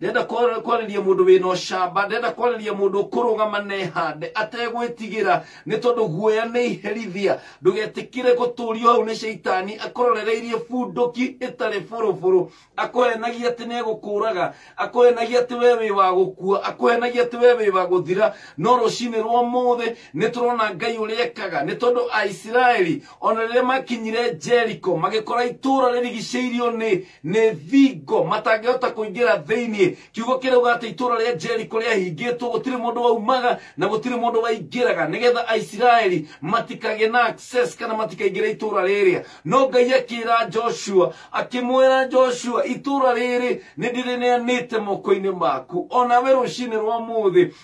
ndenda kwar- kwarĩria mũndũ wĩna ũcamba ndenda kwarĩria mũndũ ũkũrũgama nehande ategwĩtigĩra nĩ tondũ guoya nĩ iherithia ndũgetĩkĩre gũtũrio hau nĩ shaitani akũrorereirie bunduki ĩtarĩ bũrũbũrũ akũhenagia atĩ nĩ egũkũraga akũhenagia atĩ we wĩ wa gũkua akũhenagia atĩ we wĩ wa gũthira no rũcinĩ rwa mũthĩ nĩ tũrona ngai ũrĩa ekaga nĩ tondũ aisiraeli o na rĩrĩa makinyire jeriko magĩkora itũũra rĩrigicĩirio nĩ nĩ thingo matangĩhota kũingĩra thĩinĩ kiugo kĩrauga atĩ itũũra rĩa jeriko rĩahingĩtwo gũtirĩ mũndũ waumaga na gũtirĩ mũndũ waingĩraga nĩgetha aisiraeli matikagĩe na access kana matikaingĩre itũũra rĩrĩa no ngai akĩra joshua akĩmwĩra joshua itũũra rĩrĩ nĩ ndĩrĩneanĩte moko-inĩ maku o nawe rũcinĩ rwa mũthĩ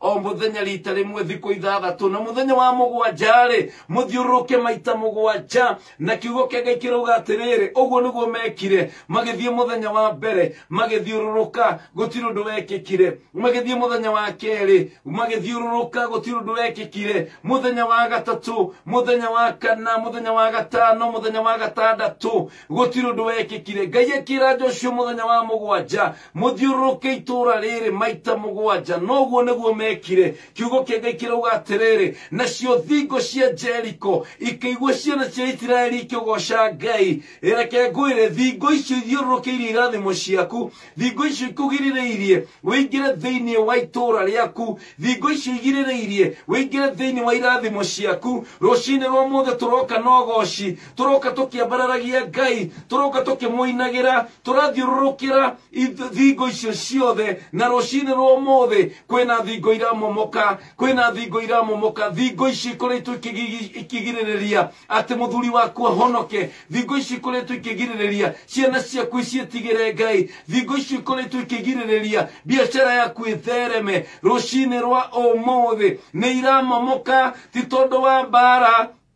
o muthenya rita rimwe thikå ithathatå na muthenya wa mũgwanja rĩ mũthiũrũrũke maita mũgwanja na kiugo kĩa ngai kĩrauga atĩrĩrĩ ũguo nĩguo mekire magĩthiĩ mũthenya wa mbere magĩthiũrũrũka gũtirĩ ũndũ wekĩkire magĩthiĩ mũthenya wa kerĩ magĩthiũrũrũka gũtirĩ ũndũ wekĩkire mũthenya wa gatatũ mũthenya wa kana mũthenya wa gatano mũthenya wa gatandatũ gũtirĩ ũndũ wekĩkire ngai akĩra joshua mũthenya wa mũgwanja mũthiũrũrũke itũũra rĩrĩ maita mũgwanja noguo nĩguo mekire kiugo kĩa ngai kĩrauga atĩrĩrĩ nacio thingo cia jeriko ikĩigua ciana cia isiraeli ikĩgoca ngai reke ngwĩre thingo icio ithiũrũrũkĩirie irathimo ciaku thingo icio ikũgirĩrĩirie wĩingĩre thĩinĩ wa itũũra rĩaku thingo icio igirĩrĩirie wĩingĩre thĩinĩ wa irathimo ciaku rũcinĩ rwa mũthĩ tũroka na ũgoci tũroka tũkĩambararagia ngai tũroka tũkĩmũinagĩra tũrathiũrũrũkĩra ith- thingo icio ciothe na rũcinĩ rwa ũmũthĩ kwĩna thingo iramomoka kwĩna thingo iramomoka thingo ici ikoretwo ikĩgigi- ikĩgirĩrĩria atĩ mũthuri waku ahonoke thingo ici ikoretwo ikĩgirĩrĩria ciana ciaku icietigĩre ngai thingo ici ikoretwo ikĩgirĩrĩria biacara yaku ĩthereme rũcinĩ rwa ũmũthĩ nĩ iramomoka ti tondũ wa mbara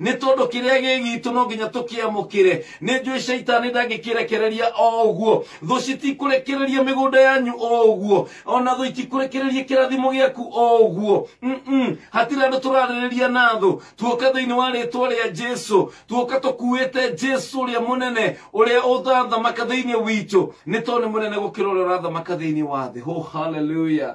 Nĩ tondũ kĩrĩa gĩ gitũ no nginya tũkĩamũkĩre. Nĩ njũĩ caitani ndangĩkĩrekereria o ũguo. Thũ citikũrekereria mĩgũnda yanyu o ũguo. Ona thũ itikũrekereria kĩrathimo gĩaku o ũguo. Mm-mm. Hatirĩ andũ tũrarĩrĩria na thũ. Tuoka thĩinĩ wa rĩtwa rĩa Jesu. Tuoka tũkuĩte Jesu ũrĩa mũnene, ũrĩa ũthathamaka thĩinĩ witũ. Nĩ tondũ nĩ mũnene gũkĩra ũrĩa ũrathamaka thĩinĩ wa thĩ. Oh, hallelujah.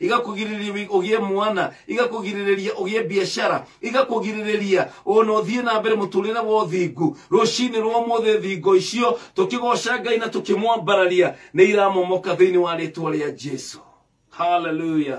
igakũgirĩrĩria ũgĩe mwana igakũgirĩrĩria ũgĩe biacara igakũgirĩrĩria ona ũthiĩ na mbere mũtũrĩre wa ũthingu rũcinĩ rwa ũmũthĩ thingo icio tũkĩgoca ngai na tũkĩmwambararia nĩ iramomoka thĩinĩ wa rĩtwa rĩa jesu haleluya